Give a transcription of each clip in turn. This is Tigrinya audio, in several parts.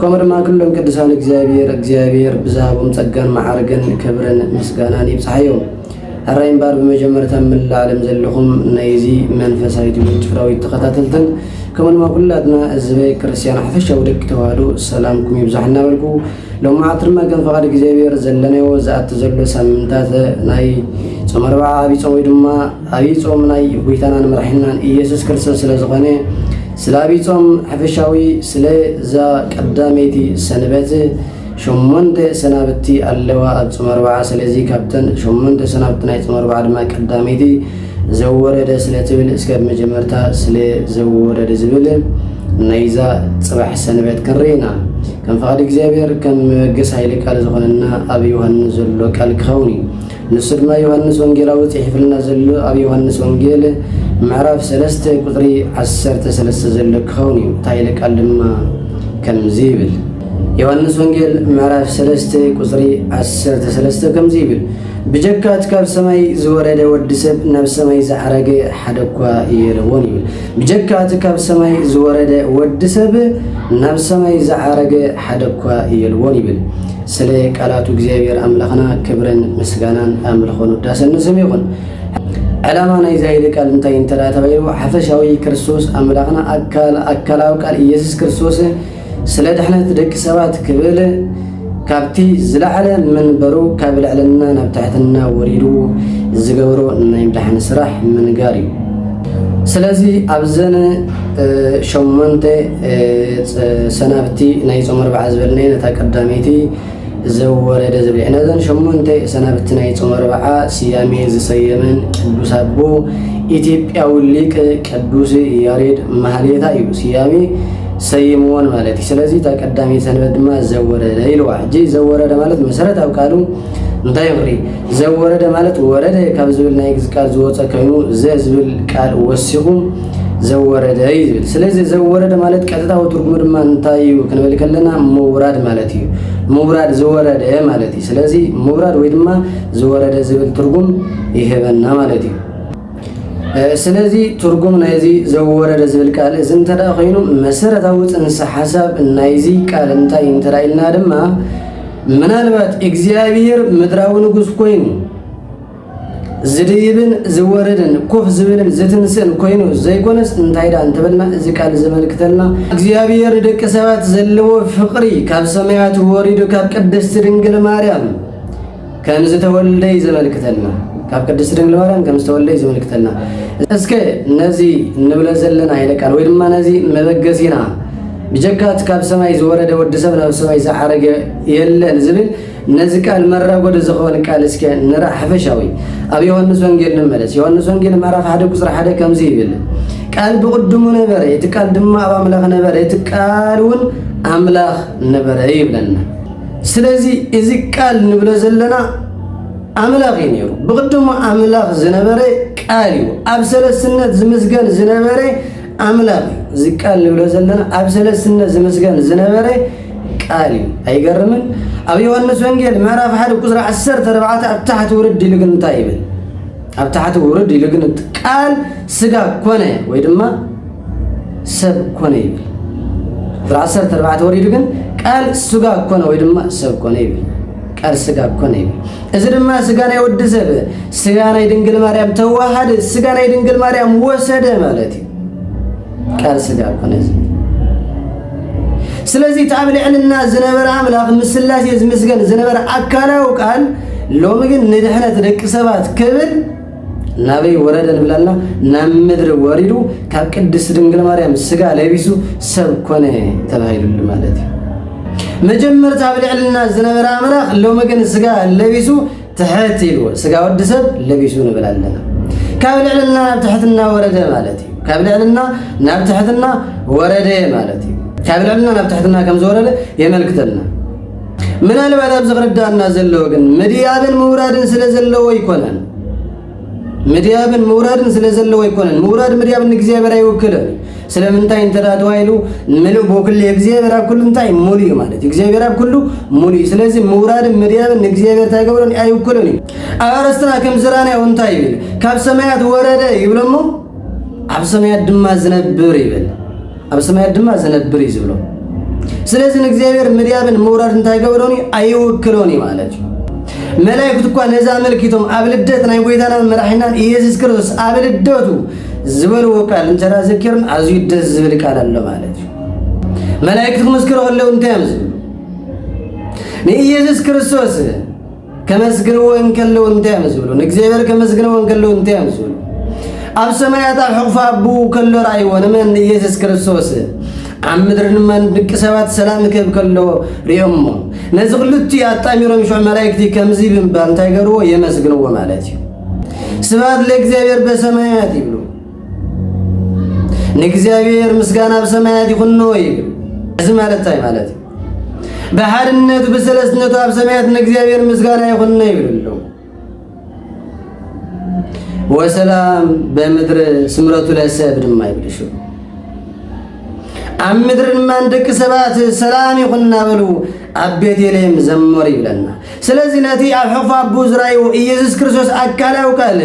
ከምኡ ድማ ኩሎም ቅዱሳን እግዚኣብሔር እግዚኣብሔር ብዝሃቦም ጸጋን መዓርግን ክብርን ምስጋናን ይብጽሓዮም። ሕራይ እምባር ብመጀመርታ መላእ ዓለም ዘለኹም ናይዚ መንፈሳዊ ትምህርቲ ፍራዊት ተኸታተልትን ከምኡ ድማ ኩላትና ህዝበ ክርስቲያን ሓፈሻዊ ደቂ ተዋህዶ ሰላምኩም ይብዛሕ እናበልኩ ሎም መዓልቲ ድማ ከም ፈቓድ እግዚኣብሔር ዘለናዮ ዝኣቲ ዘሎ ሳምንታት ናይ ጾመ ኣርብዓ ዓብይ ጾም ወይ ድማ ዓብይ ጾም ናይ ጎይታናን መራሒናን ኢየሱስ ክርስቶስ ስለ ዝኾነ ስላቢጾም ሐፈሻዊ ስለ እዛ ቀዳመይቲ ሰንበት ሸሞንተ ሰናብቲ ኣለዋ ኣብ ጾም ኣርብዓ ስለዚ ካብተን ሸሞንተ ሰናብቲ ናይ ጾም ኣርብዓ ድማ ቀዳመይቲ ዘወረደ ስለ ትብል እስከ መጀመርታ ስለ ዘወረደ ዝብል ናይዛ ጽባሕ ሰንበት ክንርኢ ኢና ከም ፍቓድ እግዚኣብሔር ከም መበገስ ኃይለ ቃል ዝኾነና ኣብ ዮሐንስ ዘሎ ቃል ክኸውን እዩ ንሱ ድማ ዮሃንስ ወንጌላዊ ጽሒፍልና ዘሎ ኣብ ዮሃንስ ወንጌል ምዕራፍ ሰለስተ ቁጽሪ ዓሰርተ ሰለስተ ዘሎ ክኸውን እዩ። እታ ኃይለ ቃል ድማ ከምዚ ይብል ዮሃንስ ወንጌል ምዕራፍ ሰለስተ ቁጽሪ ዓሰርተ ሰለስተ ከምዚ ይብል ብጀካ እቲ ካብ ሰማይ ዝወረደ ወዲ ሰብ ናብ ሰማይ ዝዓረገ ሓደ እኳ የለዎን ይብል። ብጀካ እቲ ካብ ሰማይ ዝወረደ ወዲ ሰብ ናብ ሰማይ ዝዓረገ ሓደ እኳ የልዎን ይብል። ስለ ቃላቱ እግዚኣብሔር ኣምላኽና ክብርን ምስጋናን ኣምልኾን ውዳሰን ንስም ይኹን። ዕላማ ናይ ዛይዲ ቃል እንታይ እንተ ተባሂሉ ሓፈሻዊ ክርስቶስ ኣምላኽና ኣካል ኣካላዊ ቃል ኢየሱስ ክርስቶስ ስለ ድሕነት ደቂ ሰባት ክብል ካብቲ ዝለዓለ መንበሩ ካብ ልዕልና ናብ ትሕትና ወሪዱ ዝገብሮ ናይ ምድሓን ስራሕ ምንጋር እዩ። ስለዚ ኣብዘን ሸሞንተ ሰናብቲ ናይ ጾም ኣርብዓ ዝበልናየ ነታ ቀዳመይቲ ዘወረደ ዝብል ነዘን ሸሞንተ ሰናብቲ ናይ ጾም ኣርብዓ ስያሜ ዝሰየመን ቅዱስ ኣቦ ኢትዮጵያዊ ሊቅ ቅዱስ ያሬድ ማህሌታ እዩ ስያሜ ሰይምዎን ማለት እዩ ስለዚ እታ ቀዳመይቲ ሰንበት ድማ ዘወረደ ኢልዋ ሕጂ ዘወረደ ማለት መሰረታዊ ቃሉ እንታይ ይብሪ ዘወረደ ማለት ወረደ ካብ ዝብል ናይ ግዚ ቃል ዝወፀ ኮይኑ ዘ ዝብል ቃል ወሲኹ ዘወረደ እዩ ዝብል ስለዚ ዘወረደ ማለት ቀጥታዊ ትርጉሙ ድማ እንታይ እዩ ክንብል ከለና ምውራድ ማለት እዩ ምውራድ ዝወረደ ማለት እዩ ስለዚ ምውራድ ወይ ድማ ዝወረደ ዝብል ትርጉም ይህበና ማለት እዩ ስለዚ ትርጉም ናይዚ ዘወረደ ዝብል ቃል እዚ እንተ ኮይኑ መሰረታዊ ፅንሰ ሓሳብ ናይዚ ቃል እንታይ እንተ ኢልና ድማ ምናልባት እግዚኣብሄር ምድራዊ ንጉስ ኮይኑ ዝድይብን ዝወርድን ኮፍ ዝብልን ዝትንስእን ኮይኑ ዘይኮነስ እንታይ ዳ እንተበልና እዚ ቃል ዘመልክተልና እግዚኣብሔር ደቂ ሰባት ዘለዎ ፍቅሪ ካብ ሰማያት ወሪዱ ካብ ቅድስቲ ድንግል ማርያም ከም ዝተወልደ እዩ ዘመልክተልና ካብ ቅድስቲ ድንግል ማርያም ከም ዝተወልደ እዩ ዘመልክተልና እስከ ነዚ እንብለ ዘለና ኃይለ ቃል ወይ ድማ ነዚ መበገሲና ብጀካት ካብ ሰማይ ዝወረደ ወዲ ሰብ ናብ ሰማይ ዝዓረገ የለን ዝብል ነዚ ቃል መራጎዲ ዝኸውን ቃል እስከ ንርኣ ሓፈሻዊ ኣብ ዮሃንስ ወንጌል ንመለስ ዮሃንስ ወንጌል ምዕራፍ ሓደ ቁፅሪ ሓደ ከምዚ ይብል ቃል ብቕድሙ ነበረ እቲ ቃል ድማ ኣብ ኣምላኽ ነበረ እቲ ቃል እውን ኣምላኽ ነበረ ይብለና ስለዚ እዚ ቃል ንብሎ ዘለና ኣምላኽ እዩ ነይሩ ብቕድሙ ኣምላኽ ዝነበረ ቃል እዩ ኣብ ሰለስነት ዝምስገን ዝነበረ ኣምላኽ እዚ ቃል ንብሎ ዘለና ኣብ ሰለስትነት ዝምስገን ዝነበረ ቃል እዩ ኣይገርምን ኣብ ዮሐንስ ወንጌል ምዕራፍ ሓደ ቁፅሪ ዓሰርተ ኣርባዕተ ኣብ ታሕቲ ውርድ ኢሉ ግን እንታይ ይብል ኣብ ታሕቲ ውርድ ኢሉ ግን ቃል ስጋ ኮነ ወይ ድማ ሰብ ኮነ ይብል ቁፅሪ ዓሰርተ ኣርባዕተ ወሪዱ ግን ቃል ስጋ ኮነ ወይ ድማ ሰብ ኮነ ይብል ቃል ስጋ ኮነ ይብል እዚ ድማ ስጋ ናይ ወዲ ሰብ ስጋ ናይ ድንግል ማርያም ተዋሃደ፣ ስጋ ናይ ድንግል ማርያም ወሰደ ማለት እዩ። ቃል ስጋ ኮነ። ስለዚህ እቲ ኣብ ልዕልና ዝነበረ ኣምላኽ ምስላሴ ዝምስገን ዝነበረ ኣካላዊ ቃል ሎሚ ግን ንድሕነት ደቂ ሰባት ክብል ናበይ ወረደ ንብል ኣልና ናብ ምድሪ ወሪዱ ካብ ቅድስት ድንግል ማርያም ስጋ ለቢሱ ሰብ ኮነ ተባሂሉሉ ማለት እዩ መጀመርታ ኣብ ልዕልና ዝነበረ ኣምላኽ ሎሚ ግን ስጋ ለቢሱ ትሕት ኢልዎ ስጋ ወዲ ሰብ ለቢሱ ንብል ኣለና ካብ ልዕልና ናብ ትሕትና ወረደ ማለት እዩ ካብ ልዕልና ናብ ትሕትና ወረደ ማለት እዩ ካብ ልዕልና ናብ ትሕትና ከም ዝወረደ የመልክተልና ምናልባት ኣብ ዝርዳእና ዘለዎ ግን ምድያብን ምውራድን ስለ ዘለዎ ኣይኮነን። ምድያብን ምውራድን ስለ ዘለዎ ኣይኮነን። ምውራድ ምድያብ ንእግዚኣብሔር ኣይውክልን። ስለምንታይ እንተ ተባሂሉ ምሉእ ብኩል እግዚኣብሔር ኣብ ኩሉ እንታይ ሙሉ እዩ ማለት እዩ። እግዚኣብሔር ኣብ ኩሉ ሙሉ እዩ። ስለዚ ምውራድን ምድያብን ንእግዚኣብሔር እንታይ ገብሮን ኣይውክልን እዩ። ኣብ ኣርእስትና ከም ዝራናዮ እንታይ ይብል? ካብ ሰማያት ወረደ ይብለሞ ኣብ ሰማያት ድማ ዝነብር ይብል ኣብ ሰማያት ድማ ዝነብር እዩ ዝብሎ። ስለዚ ንእግዚኣብሔር ምድያብን ምውራድ እንታይ ገብሮን እዩ ኣይውክሎን እዩ ማለት እዩ። መላእክት እኳ ነዚ ኣመልኪቶም ኣብ ልደት ናይ ጎይታናን መራሒናን ኢየሱስ ክርስቶስ ኣብ ልደቱ ዝበልዎ ቃል እንተራ ዘኪርን ኣዝዩ ደስ ዝብል ቃል ኣሎ ማለት እዩ። መላእክት ክምስክሩ ከለዉ እንታይ እዮም ዝብሉ? ንኢየሱስ ክርስቶስ ከመስግንዎ እንከለዉ እንታይ እዮም ዝብሉ? ንእግዚኣብሔር ከመስግንዎ እንከለዉ እንታይ እዮም ዝብሉ? ኣብ ሰማያት ኣብ ሕቑፋ ኣቡ ከሎ ርኣይዎ ንመን ንኢየሱስ ክርስቶስ ኣብ ምድሪ ንመን ድቂ ሰባት ሰላም ክህብ ከሎ ሪኦሞ ነዚ ክልቲ ኣጣሚሮም ሽዑ መላእክቲ ከምዚ ብምባል እንታይ ገርዎ የመስግንዎ ማለት እዩ ስብሐት ለእግዚኣብሔር በሰማያት ይብሉ ንእግዚኣብሔር ምስጋና ኣብ ሰማያት ይኹኖ ይብል። እዚ ማለት እንታይ ማለት እዩ? ብሓድነቱ ብሰለስትነቱ ኣብ ሰማያት ንእግዚኣብሔር ምስጋና ይኹኖ ይብል ኣለዉ። ወሰላም በምድር ስምረቱ ለሰብ ድማ ይብል ሽዑ ኣብ ምድሪ ድማ ንደቂ ሰባት ሰላም ይኹን እናበሉ ኣብ ቤተልሔም ዘመሩ ይብለና። ስለዚ ነቲ ኣብ ሕቑፋ ኣቦ ዝረኣዩ ኢየሱስ ክርስቶስ ኣካላዊ ቃል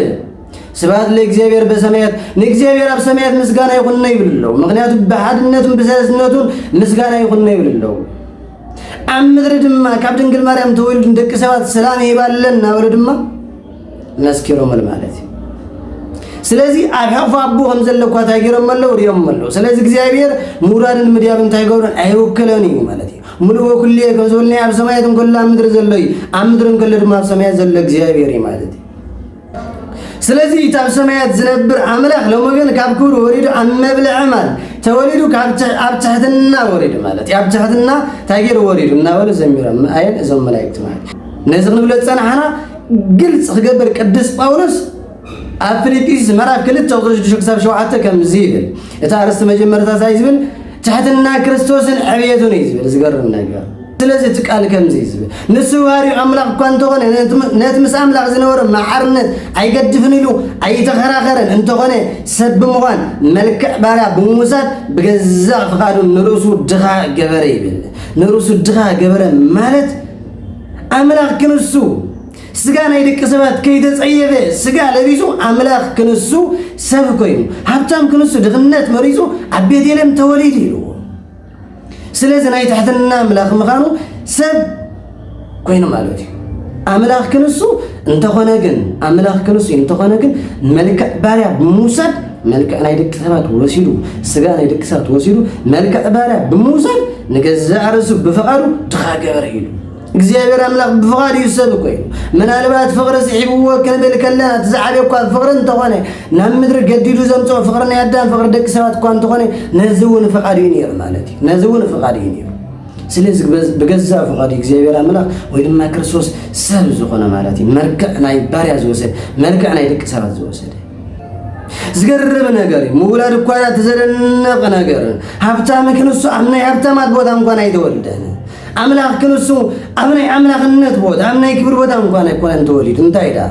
ስብሐት ለእግዚኣብሔር በሰማያት ንእግዚኣብሔር ኣብ ሰማያት ምስጋና ይኹን ነው ይብል ኣለዉ። ምክንያቱም ብሓድነቱን ብሰለስነቱን ምስጋና ይኹን ነው ይብል ኣለዉ። ኣብ ምድሪ ድማ ካብ ድንግል ማርያም ተወልዱ ደቂ ሰባት ሰላም ይባለን እናበሉ ድማ መስኪሮምል ማለት እዩ። ስለዚ ኣብ ሕቕፎ ኣቦ ከም ዘለኳ እንታይ ገይሮም ኣለዉ ሪኦም ኣለዉ። ስለዚ እግዚኣብሔር ምውራድን ምድያብ እንታይ ገብረን ኣይውክለን እዩ ማለት እዩ። ምሉእ ወኩሉ ከም ዝበልና ኣብ ሰማያት እንከሎ ኣብ ምድሪ ዘሎ እዩ፣ ኣብ ምድሪ እንከሎ ድማ ኣብ ሰማያት ዘሎ እግዚኣብሔር እዩ ማለት እዩ። ስለዚ እቲ ኣብ ሰማያት ዝነብር ኣምላኽ ሎሚ ግን ካብ ክብሪ ወሪዱ ኣብ መብልዒ ማል ተወሊዱ ኣብ ትሕትና ወሪዱ ማለት እዩ ኣብ ትሕትና እንታይ ገይሩ ወሪዱ እናበሉ ዘሚሮም ኣየን እዞም መላእክቲ ማለት ነዚ ክንብሎ ዝፀናሕና ግልፂ ክገብር ቅዱስ ጳውሎስ ኣብ ፊልጵስዩስ ምዕራፍ ክልተ ቁፅሪ ሽዱሽተ ክሳብ ሸውዓተ ከምዚ ይብል እቲ ኣርእስቲ መጀመርታ እንታይ ዝብል ትሕትና ክርስቶስን ዕብየቱን እዩ ዝብል ዝገርም ነገር ስለዚ እቲ ቃል ከምዚ እዩ ዝብል ንሱ ባህሪኡ ኣምላኽ እኳ እንተኾነ ነቲ ምስ ኣምላኽ ዝነበሮ መሓርነት ኣይገድፍን ኢሉ ኣይተኸራኸረን እንተኾነ ሰብ ብምዃን መልክዕ ባርያ ብምውሳድ ብገዛእ ፍቓዱ ንርእሱ ድኻ ገበረ ይብል ንርእሱ ድኻ ገበረ ማለት ኣምላኽ ክንሱ ስጋ ናይ ደቂ ሰባት ከይተጸየፈ ስጋ ለቢሱ ኣምላኽ ክንሱ ሰብ ኮይኑ ሃብታም ክንሱ ድኽነት መሪጹ ኣብ ቤቴልም ተወሊዱ ኢልዎ ስለዚ ናይ ትሕትና ኣምላኽ ምዃኑ ሰብ ኮይኑ ማለት እዩ ኣምላኽ ክንሱ እንተኾነ ግን ኣምላኽ ክንሱ እንተኾነ ግን መልክዕ ባርያ ብምውሳድ መልክዕ ናይ ደቂ ሰባት ወሲዱ ስጋ ናይ ደቂ ሰባት ወሲዱ መልክዕ ባርያ ብምውሳድ ንገዛእ ርእሱ ብፍቓዱ ድኻ ገበረ ኢሉ እግዚኣብሔር ኣምላኽ ብፍቓድ እዩ ሰብ እኮ እዩ ምናልባት ፍቕሪ ስሒብዎ ክንብል ከለና እቲ ዝዓበየ እኳ ፍቕሪ እንተኾነ ናብ ምድሪ ገዲዱ ዘምፅኦ ፍቕሪ ናይ ኣዳም ፍቕሪ ደቂ ሰባት እኳ እንተኾነ ነዚ እውን ፍቓድ እዩ ነይሩ ማለት እዩ ነዚ እውን ፍቓድ እዩ ነይሩ ስለዚ ብገዛ ፍቓዱ እግዚኣብሔር ኣምላኽ ወይ ድማ ክርስቶስ ሰብ ዝኾነ ማለት እዩ መልክዕ ናይ ባርያ ዝወሰደ መልክዕ ናይ ደቂ ሰባት ዝወሰደ ዝገርም ነገር እዩ ምውላድ እኳ ተዘደነቕ ነገር ሃብታም ክንሱ ኣብ ናይ ሃብታማት ቦታ እንኳን ኣይተወልደን ኣምላኽ ክንሱ ኣብ ናይ ኣምላኽነት ቦታ ኣብ ናይ ክብር ቦታ እንኳን ኣይኮነን ተወሊዱ እንታይ ደኣ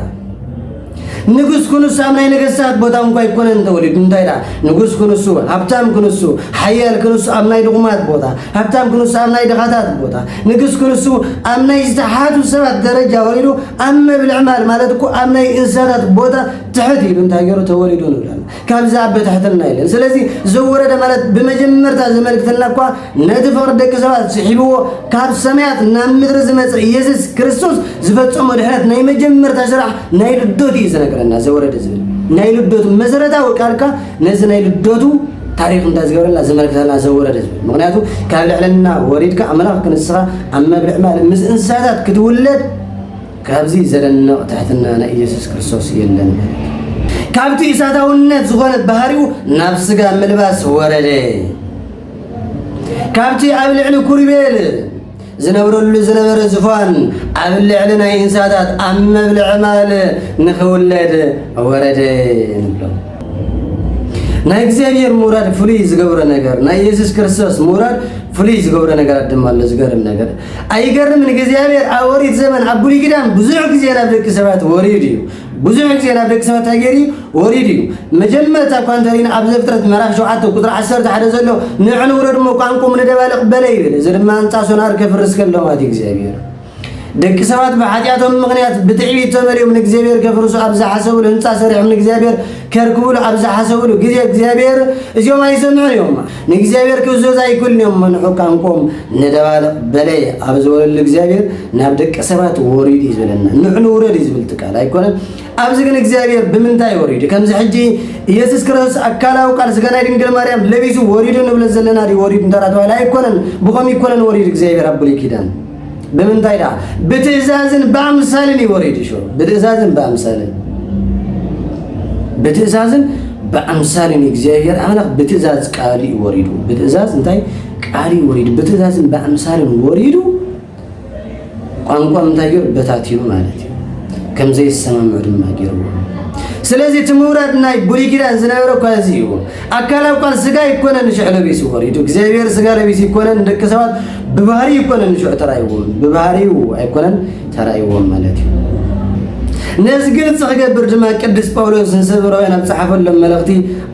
ንጉስ ክንሱ ኣብ ናይ ነገስታት ቦታ እንኳ ኣይኮነን ተወሊዱ እንታይ ደኣ ንጉስ ክንሱ ሃብታም ክንሱ ሓያል ክንሱ ኣብ ናይ ድኹማት ቦታ ሃብታም ክንሱ ኣብ ናይ ድኻታት ቦታ ንጉስ ክንሱ ኣብ ናይ ዝተሓቱ ሰባት ደረጃ ወሪዱ ኣብ መብልዕ ማል ማለት እኮ ኣብ ናይ እንስሳታት ቦታ ትሕት ኢሉ እንታይ ገይሩ ተወሊዱ ንብለና ካብዚ ኣበታሕተልና ኢለን ስለዚ ዘወረደ ማለት ብመጀመርታ ዘመልክተና እኳ ነቲ ፍቕሪ ደቂ ሰባት ስሒብዎ ካብ ሰማያት ናብ ምድሪ ዝመፀ ኢየሱስ ክርስቶስ ዝፈፀሞ ድሕነት ናይ መጀመርታ ስራሕ ናይ ልደቱ እዩ ዝነገረና ዘወረደ ዝብል ናይ ልደቱ መሰረታዊ ቃልካ ነዚ ናይ ልደቱ ታሪክ እንታይ ዝገበረልና ዘመልክተና ዘወረደ ዝብል ምክንያቱ ካብ ልዕልና ወሪድካ ኣምላኽ ክንስኻ ኣብ መብልዕ ማለት ምስ እንስሳታት ክትውለድ ካብዚ ዘደንቕ ትሕትና ናይ ኢየሱስ ክርስቶስ የለን። ካብቲ እሳታውነት ዝኾነት ባህሪኡ ናብ ስጋ ምልባስ ወረደ። ካብቲ ኣብ ልዕሊ ኩርቤል ዝነብረሉ ዝነበረ ዝፋን ኣብ ልዕሊ ናይ እንስሳታት ኣብ መብልዒ ማል ንኽውለድ ወረደ ንብሎ። ናይ እግዚኣብሔር ምውራድ ፍሉይ ዝገብሮ ነገር ናይ ኢየሱስ ክርስቶስ ምውራድ ፍሉይ ዝገብሮ ነገራት ድማ ኣሎ። ዝገርም ነገር ኣይገርምን እግዚኣብሔር ኣብ ኦሪት ዘመን ኣብ ብሉይ ኪዳን ብዙሕ ግዜ ናብ ደቂ ሰባት ወሪድ እዩ ብዙሕ ግዜ ናብ ደቂ ሰባት እንታይ ገይሩ ወሪድ እዩ መጀመርታ እኳ እንተሪና ኣብ ዘፍጥረት ምዕራፍ ሸውዓተ ቁፅሪ ዓሰርተ ሓደ ዘሎ ንዕ ንውረድ እሞ ቋንቁም ንደባልቕ በለ ይብል እዚ ድማ ህንፃ ሶናር ከፍርስ ከሎ ማለት እዩ እግዚኣብሔር ደቂ ሰባት ብሓጢኣቶም ምክንያት ብትዕቢት ተመልዮም ንእግዚኣብሔር ከፍርሱ ኣብ ዝሓሰብሉ ህንፃ ሰሪሖም ንእግዚኣብሔር ከርክብሉ ኣብ ዝሓሰብሉ ግዜ እግዚኣብሔር እዚኦም ኣይሰምዑን እዮም ንእግዚኣብሔር ክእዘዙ ኣይክእሉን እዮም ምንሑ ቃንቆም ንደባልቕ በለ ኣብ ዝበለሉ እግዚኣብሔር ናብ ደቂ ሰባት ወሪዱ እዩ ዝበለና ንሑ ንውረድ እዩ ዝብል ትቃል ኣይኮነን ኣብዚ ግን እግዚኣብሔር ብምንታይ ወሪዱ ከምዚ ሕጂ ኢየሱስ ክርስቶስ ኣካላዊ ቃል ስጋናይ ድንግል ማርያም ለቢሱ ወሪዱ ንብለ ዘለና ዲ ወሪዱ እንተራ ተባሂለ ኣይኮነን ብኸም ይኮነን ወሪዱ እግዚኣብሔር ኣብ ብሉይ ኪዳን ብምንታይ ደኣ ብትእዛዝን ብኣምሳልን እዩ ወሪዱ ሽሮ ብትእዛዝን ብኣምሳልን ብትእዛዝን ብኣምሳልን እግዚኣብሔር ኣምላኽ ብትእዛዝ ቃል እዩ ወሪዱ ብትእዛዝ እንታይ ቃል እዩ ወሪዱ ብትእዛዝን ብኣምሳልን ወሪዱ ቋንቋ እንታይ ገይሩ በታቲኑ ማለት እዩ ከም ዘይሰማምዑ ድማ ገይርዎ ስለዚህ እቲ ምውራድ ናይ ብሉይ ኪዳን ዝነበረ እኳ እዚ እዩ ኣካል ኣኳል ስጋ ይኮነን ንሽዑ ለቢሱ ይኾን ኢቱ እግዚኣብሔር ስጋ ለቢሱ ይኮነን ደቂ ሰባት ብባህሪ ይኮነን ንሽዑ ተራይዎም ብባህሪው ኣይኮነን ተራይዎም ማለት እዩ ነዚ ግልፂ ክገብር ድማ ቅዱስ ጳውሎስ ንሰብራውያን ኣብ ፀሓፈሎም መልእኽቲ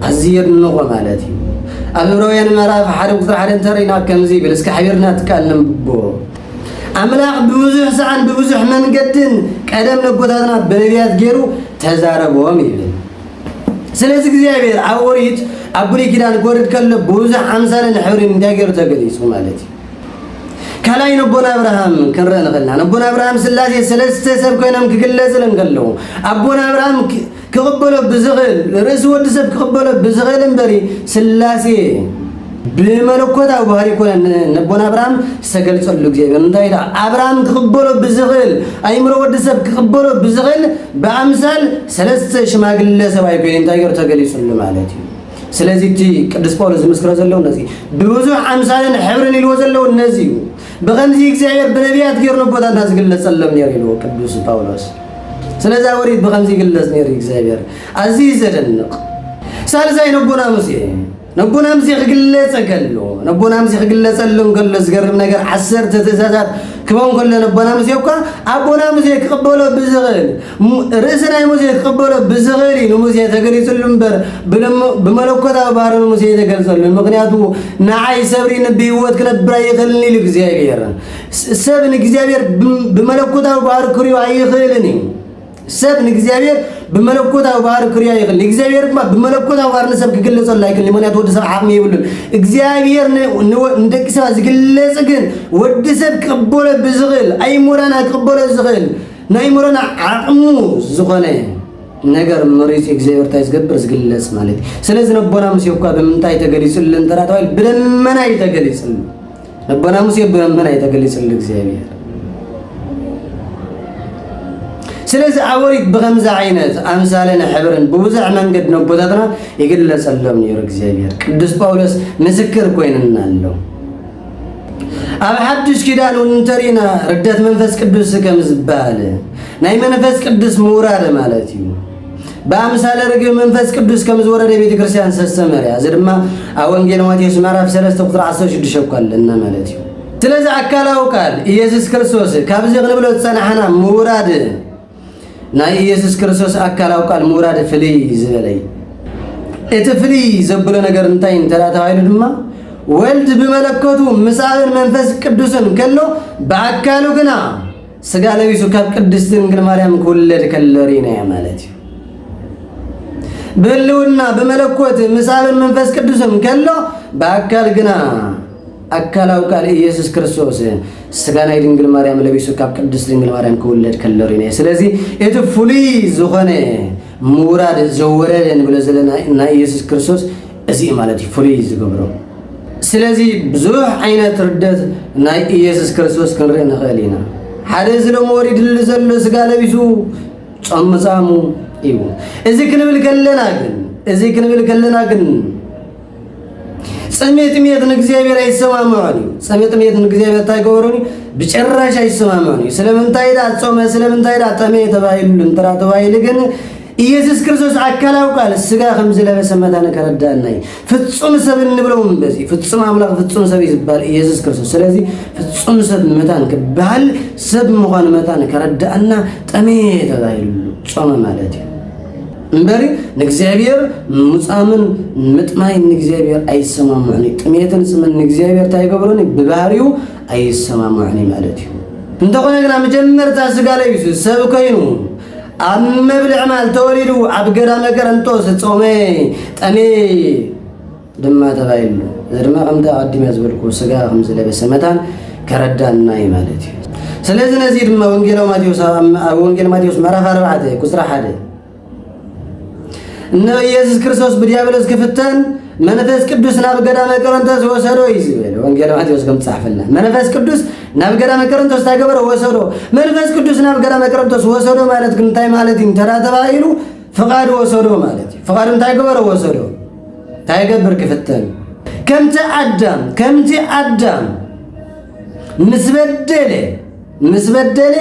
ኣዝዩ የድንቖ ማለት እዩ ኣብ ዕብራውያን ምዕራፍ ሓደ ቁፅሪ ሓደ እንተሪእና ከምዚ ይብል እስኪ ሓቢርና ትካል ንንብቦ ኣምላኽ ብብዙሕ ሰዓን ብብዙሕ መንገድን ቀደም ነቦታትና ብነቢያት ገይሩ ተዛረቦም ይብል ስለዚ እግዚኣብሔር ኣብ ኦሪት ኣብ ብሉይ ኪዳን ክወርድ ከሎ ብብዙሕ ኣምሳልን ሕብሪን እንታይ ገይሩ ተገሊጹ ማለት እዩ ካልኣይ ነቦና ኣብርሃም ክንርኢ ንኽእልና ነቦና ኣብርሃም ስላሴ ሰለስተ ሰብ ኮይኖም ክግለጽል እንከለዉ ኣቦና ኣብርሃም ክቕበሎ ብዝኽእል ርእሲ ወዲ ሰብ ክቕበሎ ብዝኽእል እምበሪ ስላሴ ብመለኮታዊ ባህሪ ይኮነ ነቦና ኣብርሃም ዝተገልጸሉ ግዜ ግን እንታይ ኢላ ኣብርሃም ክቕበሎ ብዝኽእል ኣይምሮ ወዲ ሰብ ክቕበሎ ብዝኽእል ብኣምሳል ሰለስተ ሽማግለ ሰብኣይ ኮይኑ እንታይ ገሩ ተገሊጹሉ ማለት እዩ ስለዚ እቲ ቅዱስ ጳውሎስ ዝምስክሮ ዘለዉ ነዚ ብብዙሕ ኣምሳልን ሕብርን ኢልዎ ዘለዉ ነዚ እዩ ብከምዚ እግዚኣብሔር ብነቢያት ገይሩ ነቦታትና ዝግለጸሎም ነይሩ ኢልዎ ቅዱስ ጳውሎስ ስለዚ ወሪት ብከምዚ ይግለጽ ነይሩ እግዚኣብሔር ኣዝዩ ዘደንቕ ሳልሳይ ነቦና ሙሴ ነቦና ምዚ ክግለጸ ከሎ ነቦና ምዚ ክግለጸሉ እንከሎ ዝገርም ነገር ዓሰርተ ትእዛዛት ክበን ከሎ ነቦና ምዚ እኳ ኣቦና ምዚ ክቕበሎ ብዝኽእል ርእሲ ናይ ሙሴ ክቕበሎ ብዝኽእል እዩ ንሙሴ ተገሊጽሉ እምበር ብመለኮታዊ ባህሪ ንሙሴ የተገልጸሉ ምክንያቱ ንዓይ ሰብሪ ንብህይወት ክነብር ኣይኽእልን ኢሉ እግዚኣብሔር ሰብ ንእግዚኣብሔር ብመለኮታዊ ባህሪ ክሪኦ ኣይኽእልን እዩ ሰብ ንእግዚኣብሔር ብመለኮታዊ ባህሪ ክርያ ይኽእል ንእግዚኣብሔር ድማ ብመለኮታዊ ባህሪ ንሰብ ክግለጸሉ ኣይክእል ምክንያቱ ወዲ ሰብ ዓቕሚ የብሉን እግዚኣብሔር ንደቂ ሰባት ዝግለጽ ግን ወዲ ሰብ ክቕበሎ ብዝኽእል ኣይሞራና ክቕበሎ ዝኽእል ናይ ሞራና ዓቕሙ ዝኾነ ነገር መሪፅ እግዚኣብሔር እንታይ ዝገብር ዝግለጽ ማለት እዩ ስለዚ ነቦና ሙሴ እኳ ብምንታይ ተገሊጹልን ተራ ተባሂሉ ብደመና እዩ ተገሊጹልን እበና ሙሴ እበና ኣይተገሊጽሉ እግዚኣብሔር ስለዚ ኣወሪት ብከምዚ ዓይነት ኣምሳለን ሕብርን ብብዙሕ መንገድ ነቦታትና ይግለጸሎም ነይሩ እግዚኣብሔር ቅዱስ ጳውሎስ ምስክር ኮይንና ኣሎ ኣብ ሓድሽ ኪዳን እውን እንተሪእና ርደት መንፈስ ቅዱስ ከም ዝበሃል ናይ መንፈስ ቅዱስ ምውራድ ማለት እዩ ብኣምሳለ ርግብ መንፈስ ቅዱስ ከም ዝወረደ ቤተ ክርስቲያን ዝተስተመረ እያ እዚ ድማ ኣብ ወንጌል ማቴዎስ ምዕራፍ 3 ቁጥሪ 16 እኳ ኣለና ማለት እዩ ስለዚ ኣካላዊ ቃል ኢየሱስ ክርስቶስ ካብዚ ክንብሎ ዝጸናሕና ምውራድ ናይ ኢየሱስ ክርስቶስ ኣካላዊ ቃል ምውራድ ፍልይ ዝበለይ እቲ ፍልይ ዘብሎ ነገር እንታይ እንተ ተባሂሉ ድማ ወልድ ብመለከቱ ምስ ኣብን መንፈስ ቅዱስን ከሎ ብኣካሉ ግና ስጋ ለቢሱ ካብ ቅድስቲ ድንግል ማርያም ክውለድ ከሎ ሪናያ ማለት እዩ። ብህልውና ብመለኮት ምስ ኣብን መንፈስ ቅዱስን ከሎ ብኣካል ግና ኣካላዊ ቃል ኢየሱስ ክርስቶስ ስጋ ናይ ድንግል ማርያም ለቢሱ ካብ ቅድስት ድንግል ማርያም ክውለድ ከሎ ሪነ ስለዚ እቲ ፍሉይ ዝኾነ ምውራድ ዘወረደ ንብሎ ዘለና ናይ ኢየሱስ ክርስቶስ እዚ እዩ ማለት እዩ ፍሉይ ዝገብሮ። ስለዚ ብዙሕ ዓይነት ርደት ናይ ኢየሱስ ክርስቶስ ክንርኢ ንኽእል ኢና። ሓደ እዚ ሎሚ ወሪድሉ ዘሎ ስጋ ለቢሱ ጾም ምጻሙ እዩ። እዚ ክንብል ከለና ግን እዚ ክንብል ከለና ግን ጽሜ ጥሜት ንእግዚኣብሔር ኣይሰማምዖን እዩ። ጽሜ ጥሜት ንእግዚኣብሔር እንታይ ገበሩን ብጭራሽ ኣይሰማምዖን እዩ። ስለምንታይ ዳ ጾመ ስለምንታይ ዳ ጠመየ ተባሂሉ እንተራ ተባሂሉ ግን ኢየሱስ ክርስቶስ ኣካላዊ ቃል ስጋ ከም ዝለበሰ መታን ከረዳና እዩ። ፍጹም ሰብ እንብለው በዚ ፍጹም ኣምላኽ ፍጹም ሰብ እዩ ዝበሃል ኢየሱስ ክርስቶስ። ስለዚ ፍጹም ሰብ መታን ክበሃል ሰብ ምዃኑ መታን ከረዳእና ጠመየ ተባሂሉ ጾመ ማለት እዩ እምበሪ ንእግዚኣብሔር ሙፃምን ምጥማይን ንእግዚኣብሔር ኣይሰማምዑን እዩ። ጥሜትን ጽምን ንእግዚኣብሔር እንታይ ይገብሮን ብባህሪኡ ኣይሰማምዑን ማለት እዩ። እንተኾነ ግና መጀመርታ ስጋ ለቢሱ ሰብ ኮይኑ ኣብ መብልዕ ማል ተወሊዱ ኣብ ገዳመ ቀረንጦ ዝጾመ ጠሜ ድማ ተባሂሉ እዚ ድማ ከምቲ ኣቐዲመ ዝበልኩ ስጋ ከም ዝለበሰ መታን ከረዳና እዩ ማለት እዩ ስለዚ ነዚ ድማ ወንጌል ማቴዎስ ኣብ ወንጌል ማቴዎስ ምዕራፍ ኣርባዕተ ቁፅሪ ሓደ እነ ኢየሱስ ክርስቶስ ብዲያብሎስ ክፍተን መንፈስ ቅዱስ ናብ ገዳመ ቆሮንቶስ ወሰዶ እዩ ዝብል ወንጌል ማቴዎስ ከም ትጻሕፈልና መንፈስ ቅዱስ ናብ ገዳመ ቆሮንቶስ እንታይ ገበረ ወሰዶ መንፈስ ቅዱስ ናብ ገዳመ ቆሮንቶስ ወሰዶ ማለት ግን እንታይ ማለት እዩ እንተዳ ተባሂሉ ፍቓድ ወሰዶ ማለት እዩ ፍቓድ እንታይ ገበረ ወሰዶ እንታይ ገብር ክፍተን ከምቲ ኣዳም ከምቲ ኣዳም ምስ በደለ ምስ በደለ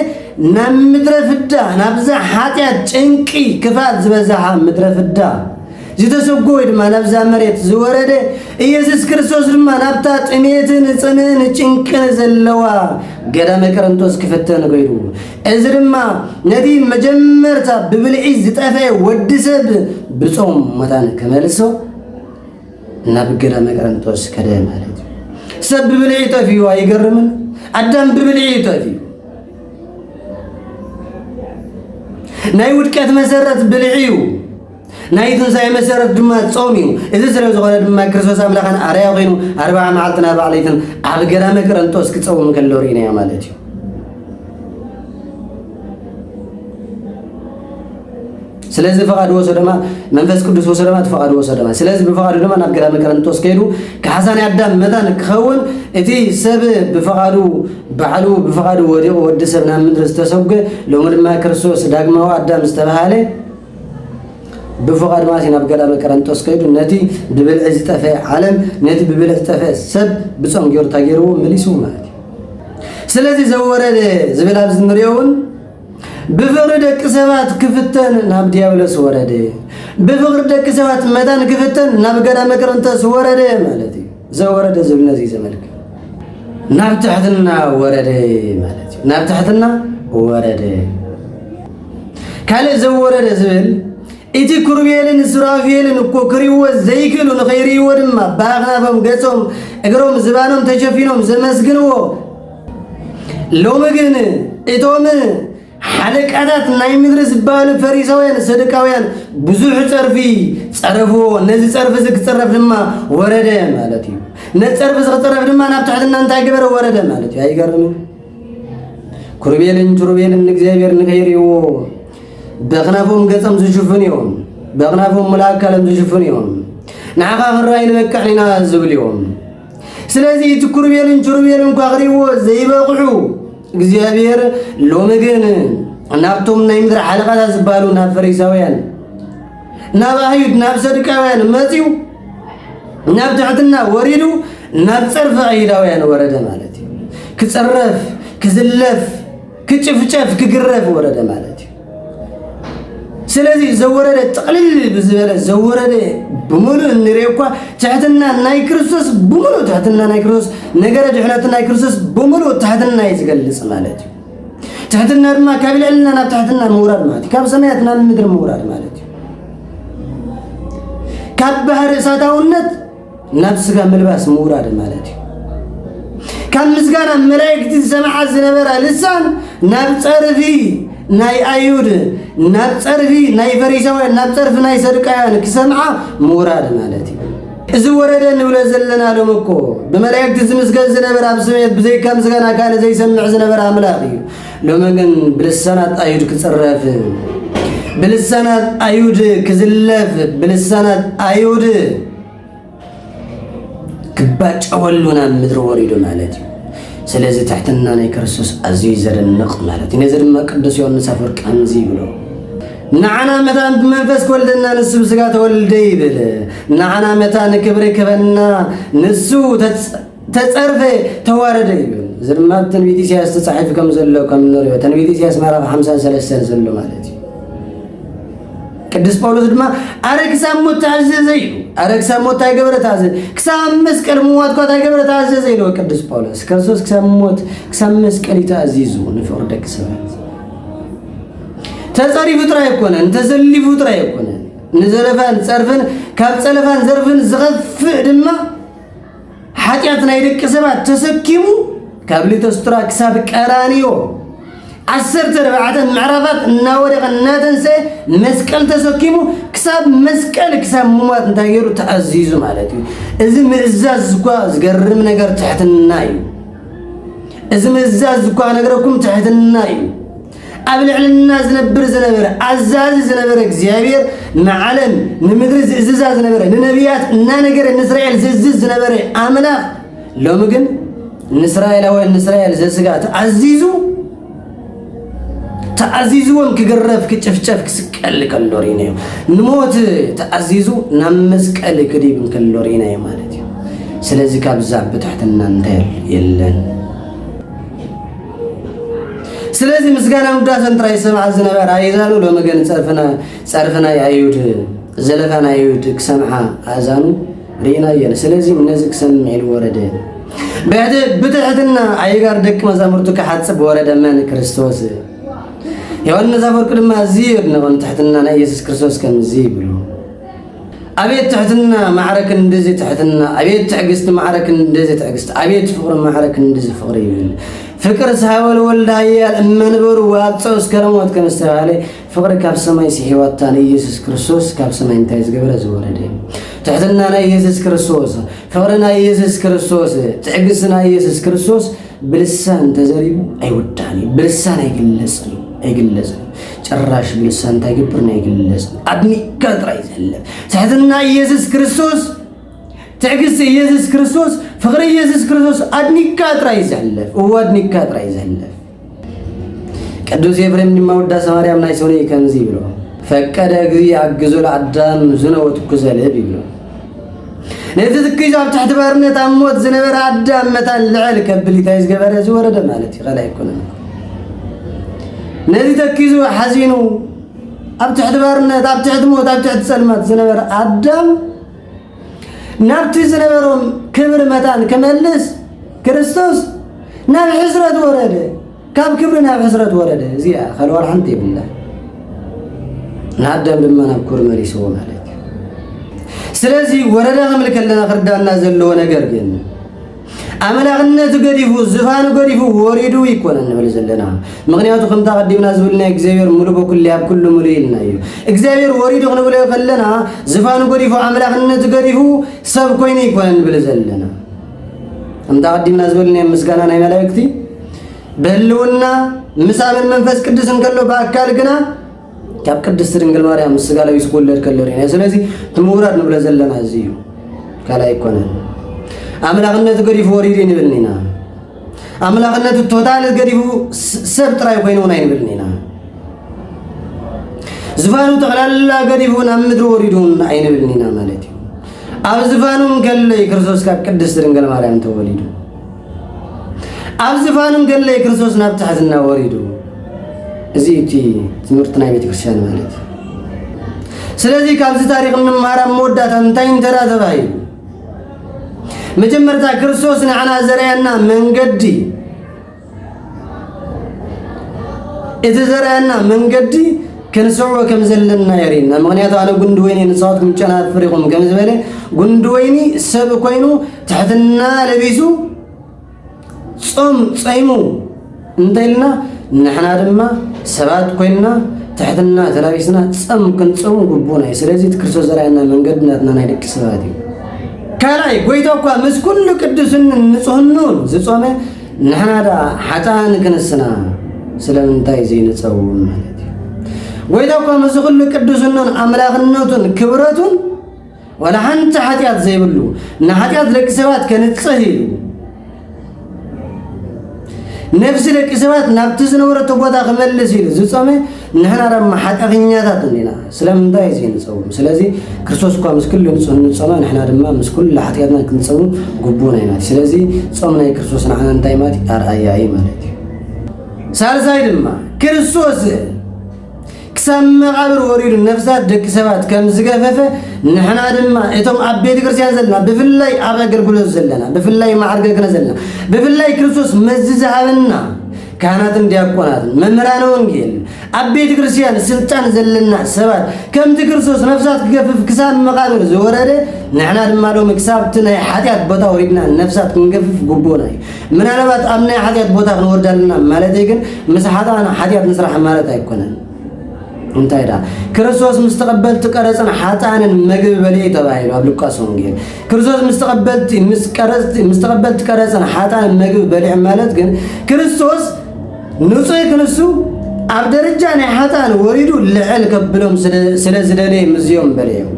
ናብ ምድረ ፍዳ ናብዛ ሓጢኣት ጭንቂ ክፍኣት ዝበዛሓ ምድረ ፍዳ ዝተሰጎ ወይ ድማ ናብዛ መሬት ዝወረደ ኢየሱስ ክርስቶስ ድማ ናብታ ጥሜትን ጽምእን ጭንቅን ዘለዋ ገዳመ ቀረንቶስ ክፍተን ገይሩ እዚ ድማ ነቲ መጀመርታ ብብልዒ ዝጠፍአ ወዲ ሰብ ብጾም መታን ክመልሶ ናብ ገዳመ ቀረንጦስ ከደ ማለት እዩ። ሰብ ብብልዒ ጠፊኡ ኣይገርምን? ኣዳም ብብልዒ እዩ ጠፊኡ። ናይ ውድቀት መሰረት ብልዒ እዩ። ናይ ትንሣኤ መሰረት ድማ ጾም እዩ። እዚ ስለ ዝኾነ ድማ ክርስቶስ ኣምላኽን ኣርያ ኮይኑ ኣርባዓ መዓልትን ኣርባዓ ለይትን ኣብ ገዳመ ቀረንጦስ ክጸውም ከሎ ርኢናዮ ማለት እዩ። ስለዚ ፈቓዱ ወሰደማ መንፈስ ቅዱስ ወሰደማ እቲ ፈቓዱ ወሰደማ ስለዚ ብፈቓዱ ድማ ናብ ገዳመ ቀረንጦስ ከይዱ ካሕሳን ኣዳም መታን ክኸውን እቲ ሰብ ብፈቓዱ ባዕሉ ብፈቓዱ ወዲቑ ወዲ ሰብ ናብ ምድሪ ዝተሰጉ ሎሚ ድማ ክርስቶስ ዳግማዊ ኣዳም ዝተባሃለ ብፈቓዱ ማለት ናብ ገዳመ ቀረንጦስ ከይዱ ነቲ ብብልዒ ዝጠፈ ዓለም ነቲ ብብልዒ ዝጠፈ ሰብ ብፆም ገይሩ ታገይርዎ መሊሱ ማለት እዩ ስለዚ ዘወረደ ዝብል ኣብዚ ንሪኦ እውን ብፍቕሪ ደቂ ሰባት ክፍተን ናብ ዲያብሎስ ወረደ። ብፍቕሪ ደቂ ሰባት መታን ክፍተን ናብ ገዳመ ቅርንተስ ወረደ ማለት እዩ። ዘወረደ ዝብል ነዚ ዘመልክ ናብ ትሕትና ወረደ ማለት እዩ። ናብ ትሕትና ወረደ። ካልእ ዘወረደ ዝብል እቲ ኩርቤልን ሱራፌልን እኮ ክሪእዎ ዘይክእሉ ንኸይርእይዎ ድማ ብኣኽናፎም ገጾም እግሮም ዝባኖም ተሸፊኖም ዘመስግንዎ ሎሚ ግን እቶም ሓለቃታት ናይ ምድሪ ዝበሃሉ ፈሪሳውያን ሰዱቃውያን ብዙሕ ጸርፊ ጸረፍዎ። ነዚ ጸርፊ እዚ ክጸረፍ ድማ ወረደ ማለት እዩ። ነዚ ጸርፊ እዚ ክጸረፍ ድማ ናብ ትሕትና እንታይ ገበረ? ወረደ ማለት እዩ። ኣይገርምን? ኩርቤልን ቱርቤልን ንእግዚኣብሔር ንኸይርእይዎ በኽናፎም ገጸም ዝሽፍን እዮም። በኽናፎም ሙሉእ ኣካሎም ዝሽፍን እዮም። ንዓኻ ክንረኣይ ንበቅዕ ኢና ዝብል እዮም። ስለዚ እቲ ኩርቤልን ችሩቤልን እኳ ክርእይዎ ዘይበቕዑ እግዚኣብሔር ሎሚ ግን ናብቶም ናይ ምድሪ ሓለቓታት ዝበሃሉ ናብ ፈሪሳውያን ናብ ኣህዩድ ናብ ሰዱቃውያን መፅዩ ናብ ትሕትና ወሪዱ ናብ ፀርፊ ኣይሁዳውያን ወረደ ማለት እዩ ክፅረፍ ክዝለፍ ክጭፍጨፍ ክግረፍ ወረደ ማለት እዩ። ስለዚ ዘወረደ ጥቕልል ብዝበለ ዘወረደ ብምሉእ እንርኦ እኳ ትሕትና ናይ ክርስቶስ ብምሉእ ትሕትና ናይ ክርስቶስ ነገረ ድሕነት ናይ ክርስቶስ ብምሉእ ትሕትና እዩ ዝገልፅ ማለት እዩ። ትሕትና ድማ ካብ ልዕልና ናብ ትሕትና ምውራድ ማለት እዩ። ካብ ሰማያት ናብ ምድሪ ምውራድ ማለት እዩ። ካብ ባህሪ እሳታውነት ናብ ስጋ ምልባስ ምውራድ ማለት እዩ ካብ ምስጋና መላእክቲ ዝሰምዓ ዝነበራ ልሳን ናብ ጸርፊ ናይ ኣይሁድ ናብ ጸርፊ ናይ ፈሪሳውያን ናብ ጸርፊ ናይ ሰዱቃውያን ክሰምዓ ምውራድ ማለት እዩ እዚ ወረደ ንብሎ ዘለና ሎም እኮ ብመላእክቲ ዝምስገን ዝነበረ ኣብ ስሜት ብዘይካ ምስጋና ካልእ ዘይሰምዕ ዝነበረ ኣምላኽ እዩ ሎሚ ግን ብልሳናት ኣይሁድ ክጽረፍ ብልሳናት ኣይሁድ ክዝለፍ ብልሳናት ኣይሁድ ክባጨወሉ ናብ ምድሪ ወሪዱ ማለት እዩ ስለዚ ትሕትና ናይ ክርስቶስ ኣዝዩ ዘደንቕ ማለት እዩ ነዚ ድማ ቅዱስ ዮሐንስ ኣፈወርቅ ከምዚ ይብሎ ንዓና መታን ብመንፈስ ክወልደና ንሱ ብስጋ ተወልደ ይብል ንዓና መታን ክብሪ ክበና ንሱ ተጸርፈ ተዋረደ ይብል እዚ ድማ ኣብ ትንቢት ኢሳያስ ተጻሒፉ ከም ዘሎ ከም ንሪኦ ትንቢት ኢሳያስ ምዕራፍ ሓምሳን ሰለስተን ዘሎ ማለት እዩ ቅዱስ ጳውሎስ ድማ ኣረ ክሳብ ሞት ተኣዘዘ ኢሉ ኣረ ክሳብ ሞት እንታይ ገበረ ተኣዘዘ ክሳብ ኣብ መስቀል ምዋት እኳ እንታይ ገበረ ተኣዘዘ ኢልዎ ቅዱስ ጳውሎስ ክርስቶስ ክሳብ ሞት ክሳብ መስቀል እዩ ተኣዚዙ ንፍቕሪ ደቂ ሰባት ተጸሪፉ ጥራይ ኣይኮነን ተዘሊፉ ጥራይ ኣይኮነን ንዘረፋን ጸርፍን ካብ ጸለፋን ዘርፍን ዝኸፍእ ድማ ሓጢኣት ናይ ደቂ ሰባት ተሰኪሙ ካብ ሊቶስትራ ክሳብ ቀራንዮ ዓሰርተ ኣርባዕተ ምዕራፋት እናወደቐ እናተንስአ መስቀል ተሰኪሙ ክሳብ መስቀል ክሳብ ምሟት እንታይ ገይሩ ተኣዚዙ ማለት እዩ እዚ ምእዛዝ እኳ ዝገርም ነገር ትሕትና እዩ እዚ ምእዛዝ እኳ ነገረኩም ትሕትና እዩ ኣብ ልዕልና ዝነብር ዝነበረ ኣዛዚ ዝነበረ እግዚኣብሔር ንዓለም ንምድሪ ዝእዝዛ ዝነበረ ንነቢያት እናነገረ ንእስራኤል ዝእዝዝ ዝነበረ ኣምላኽ ሎሚ ግን ንእስራኤላውያን ንእስራኤል ዘስጋ ተኣዚዙ ተኣዚዝዎም ክግረፍ ክጭፍጨፍ ክስቀል ከሎ ርኢና እዩ ንሞት ተኣዚዙ ናብ መስቀል ክዲብ ከሎ ርኢና እዩ ማለት እዩ ስለዚ ካብዛ ብትሕትና እንታይ የለን ስለዚ ምስጋና ውዳሰን ጥራይ ዝሰምዓ ዝነበረ ኣእዛኑ ሎሚ ግን ጸርፍና ጸርፊ ናይ ኣዩድ ዘለፋ ናይ ኣዩድ ክሰምዓ ኣእዛኑ ርኢና እየን። ስለዚ ነዚ ክሰምዕ ኢሉ ወረደ። ብትሕትና ኣይጋር ደቂ መዛሙርቱ ክሓጽብ ወረደ። መን ክርስቶስ ዮሐንስ ኣፈወርቅ ድማ እዚ የድንቖን ትሕትና ናይ ኢየሱስ ክርስቶስ ከምዚ ይብሉ ኣቤት ትሕትና ማዕረ ክንድዚ ትሕትና ኣቤት ትዕግስቲ ማዕረ ክንድዚ ትዕግስቲ ኣቤት ፍቅሪ ማዕረ ክንድዚ ፍቅሪ ይብል ፍቅር ሳወል ወልድ ሃያል እመንበሩ ዋብፀው እስከ ሞት ከም ዝተባህለ ፍቅሪ ካብ ሰማይ ስሒዋታ ንኢየሱስ ክርስቶስ ካብ ሰማይ እንታይ ዝገበረ ዝወረደ ትሕትና ናይ ኢየሱስ ክርስቶስ ፍቅሪ ናይ ኢየሱስ ክርስቶስ ትዕግስቲ ናይ ኢየሱስ ክርስቶስ ብልሳን እንተዘሪቡ ኣይውዳእን እዩ ብልሳን ኣይግለጽን እዩ ኣይግለጽን ጭራሽ ብልሳን እንታይ ግብርን ኣይግለጽን ኣድኒቅካ ጥራይ ዘሕልፍ ትሕትና ኢየሱስ ክርስቶስ ትዕግስቲ ኢየሱስ ክርስቶስ ፍቕሪ ኢየሱስ ክርስቶስ ኣድኒቅካ ጥራይ ዘሕልፍ እዎ ኣድኒቅካ ጥራይ ዘሕልፍ ቅዱስ ኤፍሬም ድማ ውዳሴ ማርያም ናይ ሰውነ ከምዚ ይብሎ ፈቀደ እግዚእ ኣግዞ ለኣዳም ዝነ ወትኩዘ ልብ ይብሎ ነቲ ዝክሽ ኣብ ትሕቲ ባርነት ኣብ ሞት ዝነበረ ኣዳም መታን ልዕል ከብል እንታይ ዝገበረ ዝወረደ ማለት እዩ ካልእ ኣይኮነን ነዚ ተኪዙ ሓዚኑ ኣብ ትሕቲ ባርነት ኣብ ትሕቲ ሞት ኣብ ትሕቲ ጸልማት ዝነበረ ኣዳም ናብቲ ዝነበሮም ክብሪ መታን ክመልስ ክርስቶስ ናብ ሕስረት ወረደ ካብ ክብሪ ናብ ሕስረት ወረደ እዚኣ ከልወር ሓንቲ የብላ ንኣዳም ድማ ናብ ኩር መሊስዎ ማለት እዩ ስለዚ ወረዳ ክምል ከለና ክርዳና ዘለዎ ነገር ግን ኣምላኽነቱ ገዲፉ ዝፋኑ ገዲፉ ወሪዱ ይኮነ ንብል ዘለና ምክንያቱ ከምታ ቀዲምና ዝብልና እግዚኣብሔር ሙሉ በኩል ኣብ ኩሉ ሙሉ ኢልና እዩ እግዚኣብሔር ወሪዱ ክንብሎ ከለና ዝፋኑ ገዲፉ ኣምላኽነቱ ገዲፉ ሰብ ኮይኑ ይኮነ ንብል ዘለና እንተ ኣቐዲምና ዝበልናዮም ምስጋና ናይ መላእክቲ ብህልውና ምስ ኣምን መንፈስ ቅዱስ እንከሎ ብኣካል ግና ካብ ቅድስቲ ድንግል ማርያም ምስ ስጋ ለቢሱ ክውለድ ከሎ ርኢና። ስለዚ እቲ ምውራድ ንብሎ ዘለና እዚ እዩ፣ ካልእ ኣይኮነን። ኣምላኽነቱ ገዲፉ ወሪዱ ንብልን ኢና። ኣምላኽነቱ ቶታል ገዲፉ ስ- ሰብ ጥራይ ኮይኑ እውን ኣይንብልን ኢና። ዝፋኑ ጠቕላላ ገዲፉ ናብ ምድሪ ወሪዱ እውን ኣይንብልን ኢና ማለት እዩ። ኣብ ዝፋኑም ገለይ ክርስቶስ ካብ ቅድስት ድንግል ማርያም ተወሊዱ ኣብ ዝፋኑም ገለይ ክርስቶስ ናብ ትሕትና ወሪዱ እዚ እቲ ትምህርቲ ናይ ቤተክርስትያን ማለት እዩ ስለዚ ካብዚ ታሪክ እንማራ መወዳእታ እንታይ እንተራ ተባሂሉ መጀመርታ ክርስቶስ ንዓና ዘርኣየና መንገዲ እቲ ዘርእና መንገዲ ክንስዕቦ ከም ዘለና የርእና። ምክንያቱ ኣነ ጉንዲ ወይኒ ንሳትኩም ጨናት ፍሪኹም ከም ዝበለ ጉንዲ ወይኒ ሰብ ኮይኑ ትሕትና ለቢሱ ጾም ጸይሙ እንተኢልና ንሕና ድማ ሰባት ኮይንና ትሕትና ተላቢስና ጸም ክንጸሙ ግቡና እዩ። ስለዚ እቲ ክርስቶስ ዘርእና መንገዲ ናትና ናይ ደቂ ሰባት እዩ። ካልኣይ ጎይታ እኳ ምስ ኩሉ ቅዱስን ንጹህኑን ዝጾመ ንሕና ደኣ ሓጥኣን ክንስና ስለምንታይ ዘይንጸውም ማለት እዩ። ጎይታ እኳ ምስዚ ኩሉ ቅዱስናን ኣምላኽነቱን ክብረቱን ዋላ ሓንቲ ሓጢኣት ዘይብሉ ንሓጢኣት ደቂ ሰባት ከንጽህ ኢሉ ነፍሲ ደቂ ሰባት ናብቲ ዝነበረቶ ቦታ ክመልስ ኢሉ ዝጾመ ንሕና ደማ ሓጢኣተኛታት እንዲና፣ ስለምንታይ እዚ ንጸውም? ስለዚ ክርስቶስ እኳ ምስ ኩሉ ንጹህ እንጾመ፣ ንሕና ድማ ምስ ኩሉ ሓጢኣትና ክንጸውም ግቡእና እዩ ማለት እዩ። ስለዚ ጾም ናይ ክርስቶስ ንዓና እንታይ ማለት እዩ? ኣርኣያ እዩ ማለት እዩ። ሳልሳይ ድማ ክርስቶስ ክሳብ መቓብር ወሪዱ ነፍሳት ደቂ ሰባት ከም ዝገፈፈ ንሕና ድማ እቶም ኣብ ቤተ ክርስቲያን ዘለና ብፍላይ ኣብ ኣገልግሎት ዘለና ብፍላይ ማዕርገ ክነ ዘለና ብፍላይ ክርስቶስ መዚ ዝሃበና ካህናትን ዲያቆናትን መምህራነ ወንጌል ኣብ ቤተ ክርስቲያን ስልጣን ዘለና ሰባት ከምቲ ክርስቶስ ነፍሳት ክገፍፍ ክሳብ መቃብር ዝወረደ ንሕና ድማ ሎሚ ክሳብቲ ናይ ሓጢኣት ቦታ ወሪድና ነፍሳት ክንገፍፍ ግቡእና እዩ ምናልባት ኣብ ናይ ሓጢኣት ቦታ ክንወርድ ኣለና ማለት ግን ምስ ሓጣን ሓጢኣት ንስራሕ ማለት ኣይኮነን እንታይ ዳ ክርስቶስ ምስ ተቐበልቲ ቀረፅን ሓጣንን መግቢ በልዩ ተባሂሉ ኣብ ሉቃስ ወንጌል ክርስቶስ ምስ ተቐበልቲ ምስ ቀረጽቲ ምስ ተቐበልቲ ቀረጽን ሓጣን መግቢ በሊዑ ማለት ግን ክርስቶስ ንጹህ ክንሱ ኣብ ደረጃ ናይ ሓጣን ወሪዱ ልዕል ከብሎም ስለ ዝደለየ ምዝዮም በለዮም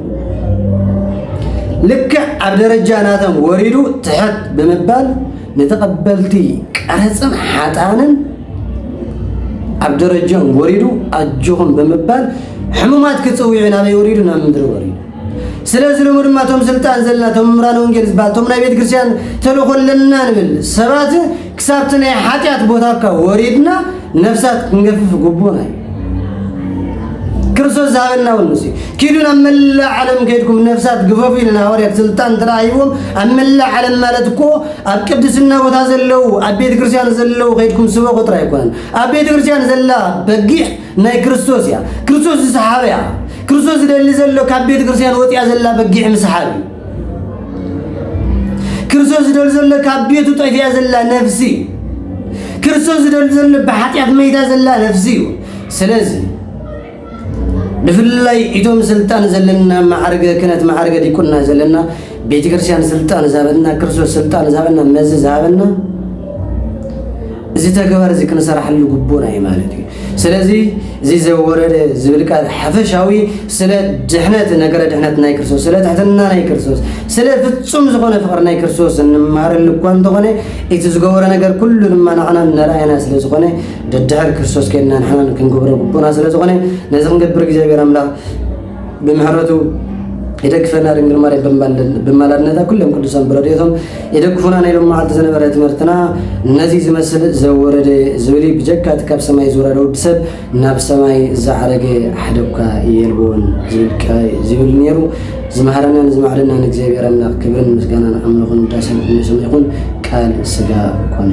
ልክዕ ኣብ ደረጃ ናቶም ወሪዱ ትሕት ብምባል ንተቐበልቲ ቀረጽን ሓጣንን ኣብ ደረጃኦም ወሪዱ ኣጆኹም ብምባል ሕሙማት ክጽውዑ ናበይ ወሪዱ ናብ ምድሪ ወሪዱ ስለዚ ሎሚ ድማ እቶም ስልጣን ዘለና እቶም ምምራን ወንጌል ዝበሃል እቶም ናይ ቤተ ክርስቲያን ተልእኮ ኣለና ንብል ሰባት ክሳብቲ ናይ ሓጢኣት ቦታካ ወሪድና ነፍሳት ክንገፍፍ ግቡና እዩ ክርስቶስ ዝሃበና እውን ንሱ ኪዱ ናብ መላእ ዓለም ከይድኩም ነፍሳት ግፈፉ ኢልና ሃዋርያት ስልጣን ተረኣይዎም ኣብ መላእ ዓለም ማለት እኮ ኣብ ቅድስና ቦታ ዘለዉ ኣብ ቤተ ክርስቲያን ዘለዉ ከይድኩም ስበኹ ጥራይ ኣይኮነን ኣብ ቤተ ክርስቲያን ዘላ በጊዕ ናይ ክርስቶስ እያ ክርስቶስ ዝሰሓበ እያ ክርስቶስ ዝደሊ ዘሎ ካብ ቤተ ክርስቲያን ወፂኣ ዘላ በጊዕ ምስሓብ እዩ ክርስቶስ ዝደሊ ዘሎ ካብ ቤቱ ጠፊያ ዘላ ነፍሲ እዩ ክርስቶስ ዝደሊ ዘሎ ብሓጢኣት መይታ ዘላ ነፍሲ እዩ ስለዚ ብፍላይ ኢቶም ስልጣን ዘለና ማዕርገ ክነት ማዕርገ ዲቁና ዘለና ቤተ ክርስቲያን ስልጣን ዝሃበና ክርስቶስ ስልጣን ዝሃበና መዚ ዝሃበና እዚ ተግባር እዚ ክንሰራሕሉ ግቡና እዩ ማለት እዩ ስለዚ እዚ ዘወረደ ዝብል ቃል ሓፈሻዊ ስለ ድሕነት ነገረ ድሕነት ናይ ክርስቶስ ስለ ትሕትና ናይ ክርስቶስ ስለ ፍጹም ዝኾነ ፍቕሪ ናይ ክርስቶስ እንመሃረሉ እኳ እንተኾነ እቲ ዝገበሮ ነገር ኩሉ ድማ ንዓና እናረኣየና ስለ ዝኾነ ደድሕር ክርስቶስ ከይድና ንሕና ክንገብሮ ግቡእና ስለ ዝኾነ ነዚ ክንገብር እግዚኣብሔር ኣምላኽ ብምሕረቱ ይደግፈና ድንግል ማርያም ብማላድነታ ኩሎም ቅዱሳን ብረድኤቶም ይደግፉና ናይ ሎም መዓልቲ ዝነበረ ትምህርትና ነዚ ዝመስል ዘወረደ ዝብል ብጀካ እቲ ካብ ሰማይ ዝወረደ ወዲ ሰብ ናብ ሰማይ ዝዓረገ ሓደኳ የልቦን ዝብል ነይሩ ዝመሃረናን ዝመዕደናን እግዚኣብሔር ኣምላኽ ክብርን ምስጋናን ኣምልኹን ውዳሴን ንስሙ ይኹን ቃል ስጋ ኮነ